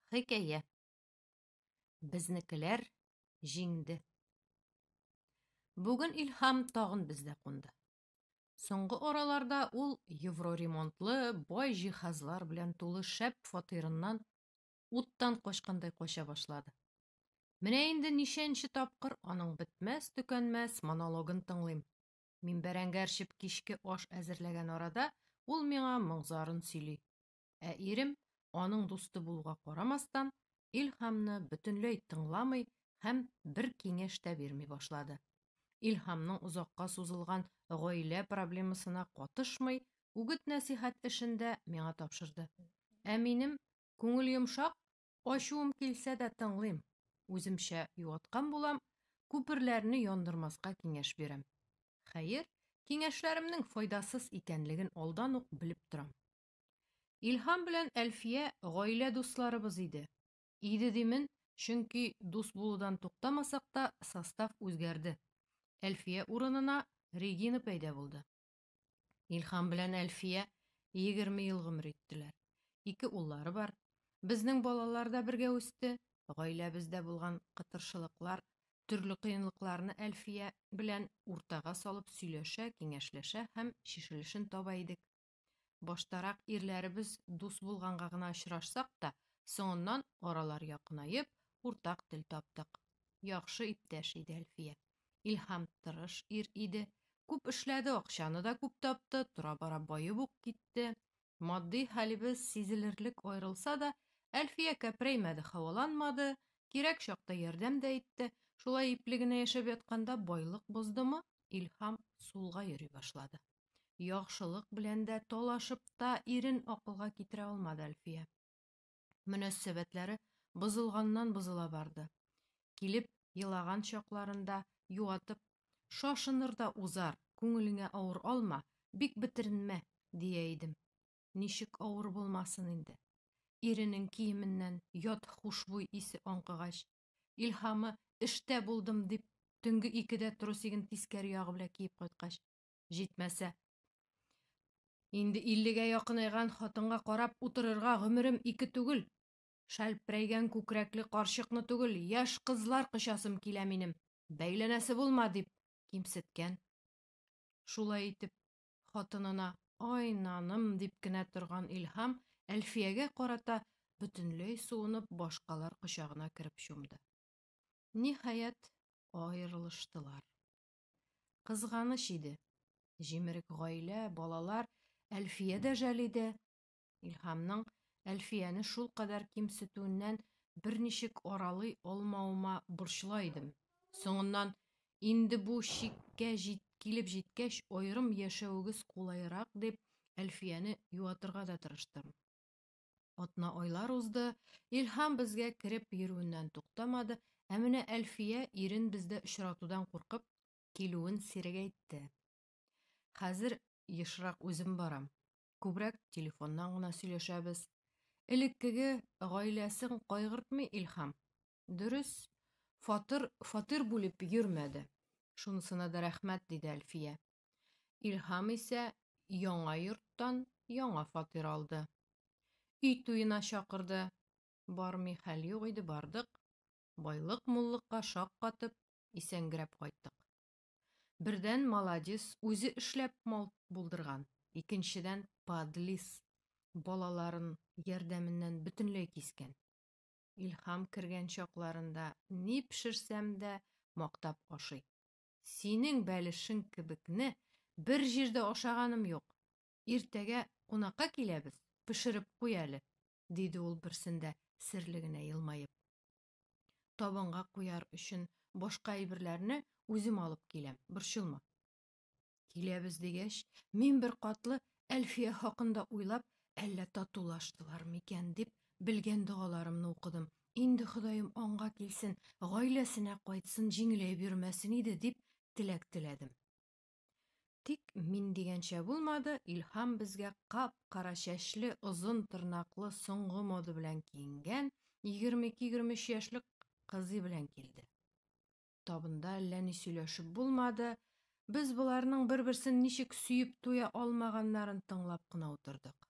Хикәя. Безнекеләр җиңде. Бүген Илһам тагын бездә кунды. Соңгы араларда ул евроремонтлы бай җиһазлар белән тулы шәп фатирыннан уттан качкандай кача башлады. Менә инде ничәнче тапкыр аның бетмәс-төкәнмәс монологын тыңлыйм. Мин бәрәңге әрчеп кичке аш әзерләгән арада ул миңа моңзарын сөйли. Ә ирем, аның дусты булуга карамастан, Илһамны бөтенләй тыңламый һәм бер киңәш тә бирми башлады. Илһамның озакка сузылган гаилә проблемасына катышмый, үгет-нәсихәт эшендә миңа тапшырды. Ә минем Күңел йомшак, ачуым килсә дә тыңлыйм. Үземчә юаткан булам, күперләрне яндырмаска киңәш бирәм. Хәер, киңәшләремнең файдасыз икәнлеген алдан ук белеп торам. Илһам белән Әлфия гаилә дусларыбыз иде. Иде димен, чөнки дус булудан туктамасак та, состав үзгәрде. Әлфия урынына Регина пәйда булды. Илһам белән Әлфия 20 ел гомер иттеләр. Ике уллары бар. Безнең балалар да бергә үсте. Гаиләбездә булган кытыршылыклар, төрле кыенлыкларны Әлфия белән уртага салып сөйләшә, киңәшләшә һәм чишелешен таба идек. Баштарак ирләребез дус булганга гына очрашсак та, соңыннан аралар якынаеп, уртак тел таптык. Яхшы иптәш иде Әлфия. Илһам тырыш ир иде. Күп эшләде, акчаны да күп тапты, тора-бара баеп ук китте. Матди хәлебез сизелерлек аерылса да, Әлфия кәпрәймәде, һаваланмады, кирәк чакта ярдәм дә итте. Шулай ипле генә яшәп ятканда байлык боздымы, Илһам сулга йөри башлады. Яхшылык белән дә талашып та, ирен акылга китерә алмады Әлфия. мөнәссәбәтләре бозылганнан-бозыла барды. Килеп елаган чакларында юатып, Шашыныр да узар, күңелеңә авыр алма, бик бетеренмә, дия идем. Ничек авыр булмасын инде. Иренең киеменнән ят хушбуй исе аңкыгач, Илһамы эштә булдым дип, төнге икедә трусигын тискәре ягы белән киеп кайткач, Җитмәсә. Инде иллегә якынайган хатынга карап утырырга гомерем ике түгел. Шәлпрәйгән күкрәкле карчыкны түгел, яшь кызлар кочасым килә минем. Бәйләнәсе булма, дип кимсеткән. Шулай итеп, хатынына ай наным дип кенә торган Илһам Әлфиягә карата бөтенләй суынып башкалар кочагына кереп чумды. Ниһаять, аерылыштылар. Кызганыч иде. Җимерек гаилә, балалар, Әлфия дә жәл иде. Илһамның Әлфияне шул кадәр кимсетүеннән берничек аралый алмавыма борчыла идем. Соңыннан, инде бу чиккә җит, килеп җиткәч, аерым яшәвегез кулайрак дип, Әлфияне юатырга да тырыштым. Атна-айлар узды, Илһам безгә кереп йөрүеннән туктамады, ә менә Әлфия ирен бездә очратудан куркып, килүен сирәгәйтте. Хәзер ешрак үзем барам. Күбрәк телефоннан гына сөйләшәбез. Элеккеге гаиләсен кайгыртмый Илһам. Дөрес, фатир, фатир бүлеп йөрмәде. Шунысына да рәхмәт, диде Әлфия. Илһам исә яңа йорттан яңа фатир алды. Өй туена чакырды. Бармый хәл юк иде, бардык. Байлык-муллыкка шаккатып, исәнгерәп кайттык. Бердән, молодец, үзе эшләп мал булдырган. Икенчедән, подлис, балаларын ярдәменнән бөтенләй кискән. Илһам кергән чакларында ни пешерсәм дә мактап ашый. Синең бәлешең кебекне бер җирдә ашаганым юк. Иртәгә кунакка киләбез, пешереп куй әле, диде ул берсендә серле генә елмаеп. Табынга куяр өчен башка әйберләрне үзем алып киләм, борчылма. Киләбез дигәч, мин бер катлы Әлфия хакында уйлап, әллә татулаштылар микән дип, белгән догаларымны укыдым, Инде Ходаем аңга килсен, гаиләсенә кайтсын, җиңеләй бирмәсен иде, дип теләк теләдем. Тик мин дигәнчә булмады, Илһам безгә кап-кара чәчле, озын тырнаклы, соңгы мода белән киенгән, 22-23 яшьлек кызый белән килде. Табында әллә ни сөйләшеп булмады, без боларның бер-берсен ничек сөеп туя алмаганнарын тыңлап кына утырдык.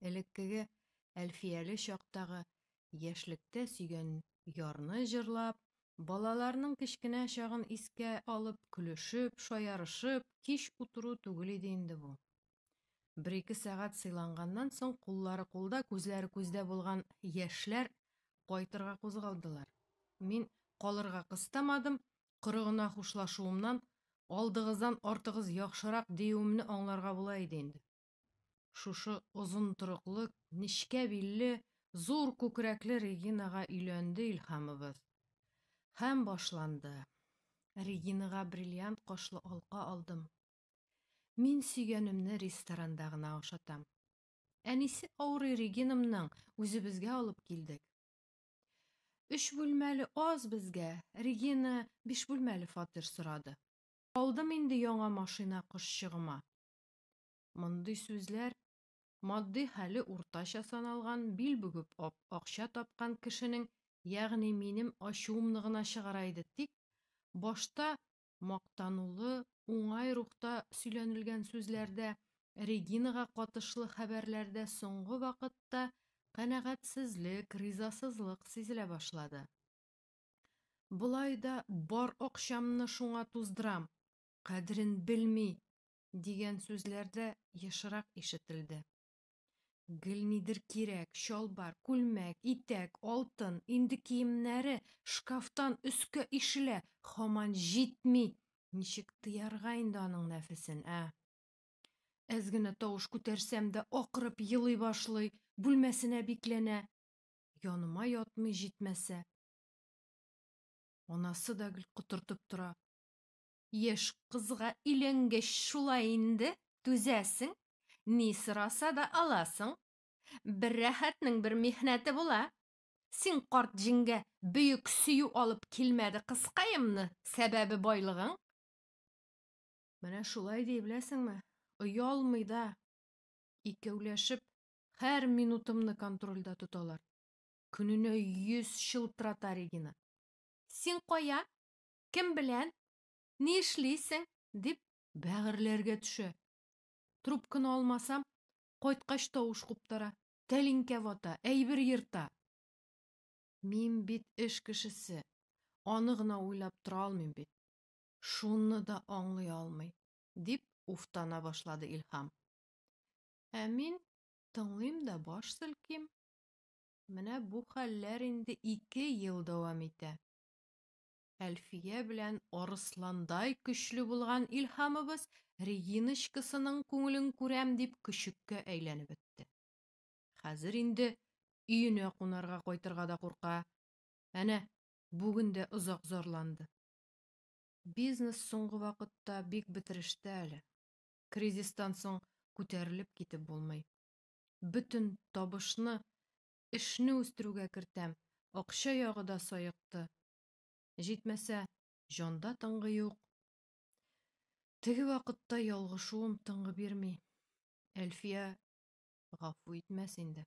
элеккеге Әлфияле чактагы яшьлектә сөйгән ярны җырлап, балаларның кечкенә чагын искә алып көлешеп, шаярышып кич утыру түгел иде инде бу. Бер-ике сәгать сыйланганнан соң куллары кулда, күзләре күздә булган яшьләр кайтырга кузгалдылар. Мин калырга кыстамадым, коры гына хушлашуымнан, алдыгыздан артыгыз яхшырак диюемне аңларга була иде инде. Шушы озын торыклы, нечкә билле, зур күкрәкле Регинага өйләнде Илһамыбыз. Һәм башланды. Регинага бриллиант кашлы алка алдым. Мин сөйгәнемне ресторанда гына ашатам. Әнисе авырый Регинымның, үзебезгә алып килдек. Өч бүлмәле аз безгә, Регина биш бүлмәле фатир сорады. Алдым инде яңа машина кошчыгыма. Мондый сүзләр матди хәле уртача саналган, бил бүгеп акча тапкан кешенең, ягъни минем ачуымны гына чыгара иде, тик башта мактанулы, уңай рухта сөйләнелгән сүзләрдә, Регинага катышлы хәбәрләрдә соңгы вакытта канәгатьсезлек, ризасызлык сизелә башлады. Болай да бар акчамны шуңа туздырам, кадерен белми, дигән сүзләр дә ешрак ишетелде. Гел нидер кирәк, чалбар, күлмәк, итәк, алтын, инде киемнәре шкафтан өскә ишелә, хаман җитми. Ничек тыярга инде аның нәфесен, ә? Әз генә тавыш күтәрсәм дә акырып елый башлый, бүлмәсенә бикләнә. Яныма ятмый җитмәсә. Анасы да гел котыртып тора. Яшь кызга өйләнгәч шулай инде, түзәсең, ни сораса да аласың. Бер рәхәтнең бер михнәте була. Син карт җиңгә бөек сөю алып килмәде кызкаемны, сәбәбе байлыгың. Менә шулай ди, беләсеңме, оялмый да. Икәүләшеп һәр минутымны контрольдә тоталар. Көненә йөз чылтырата Регина. Син кая? Кем белән? Ни эшлисең? дип бәгырьләргә төшә. Трубканы алмасам, кайткач тавыш куптара, тәлинкә вата, әйбер ерта. Мин бит эш кешесе, аны гына уйлап тора алмыйм бит. Шуны да аңлый алмый, дип уфтана башлады Илһам. Ә мин тыңлыйм да баш селким. Менә бу хәлләр инде ике ел дәвам итә. Әлфия белән арысландай көчле булган Илһамыбыз Региночкасының күңелен күрәм дип көчеккә әйләнеп бетте. Хәзер инде өенә кунарга кайтырга да курка. Әнә, бүген дә озак зарланды. Бизнес соңгы вакытта бик бетерештә әле. Кризистан соң күтәрелеп китеп булмый. Бөтен табышны эшне үстерүгә кертәм, акча ягы да саекты. Җитмәсә, җанда тынгы юк. Теге вакытта ялгышуым тынгы бирми. Әлфия гафу итмәс инде.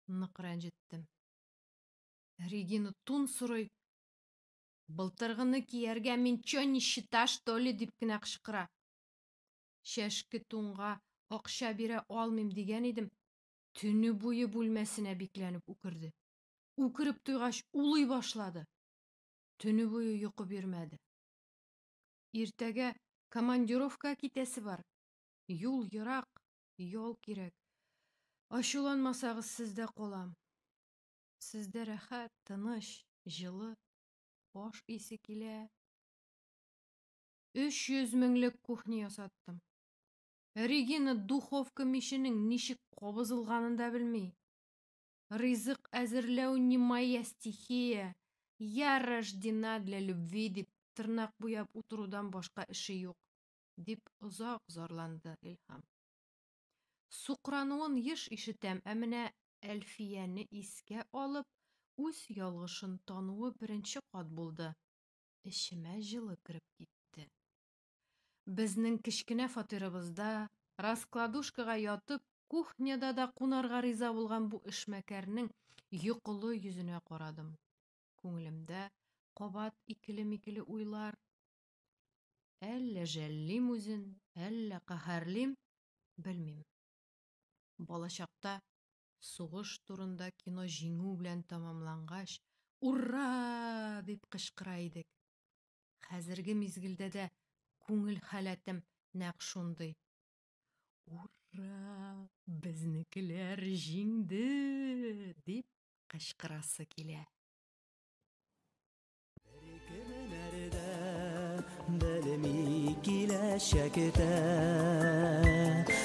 Нык рәнҗеттем. Регина тун сорый. Былтыргыны кияргә мин чё не счита, что ли, дип кенә кычкыра. Чәшке тунга акча бирә алмыйм дигән идем. Төне буе бүлмәсенә бикләнеп үкерде. Үкереп туйгач, улый башлады. Төне буе йокы бирмәде. Иртәгә командировка китәсе бар. Юл ерак, ял кирәк. Ачуланмасагыз, сездә калам. Сездә рәхәт, тыныч, җылы. Аш исе килә. 300 меңлек кухня ясаттым. Регина духовка миченең ничек кабызылганын да белми. Ризык әзерләү не моя стихия, я рождена для любви дип тырнак буяп утырудан башка эше юк, дип озак зарланды Илһам. Сукрануын еш ишетәм, ә менә Әлфияне искә алып, үз ялгышын тануы беренче кат булды. Эчемә җылы кереп китте. Безнең кечкенә фатирыбызда, раскладушкага ятып, кухняда да кунарга риза булган бу эшмәкәрнең йокылы йөзенә карадым. Күңелемдә кабат икеле-микеле уйлар. Әллә жәллим үзен, әллә каһәрлим, белмим. Балачакта сугыш турында кино җиңү белән тәмамлангач, Ур-ра! дип кычкыра идек. Хәзерге мизгелдә дә күңел халәтем нәкъ шундый. Ура! Безнекеләр җиңде! дип кычкырасы килә. Беркемнәрдә белми киләчәктә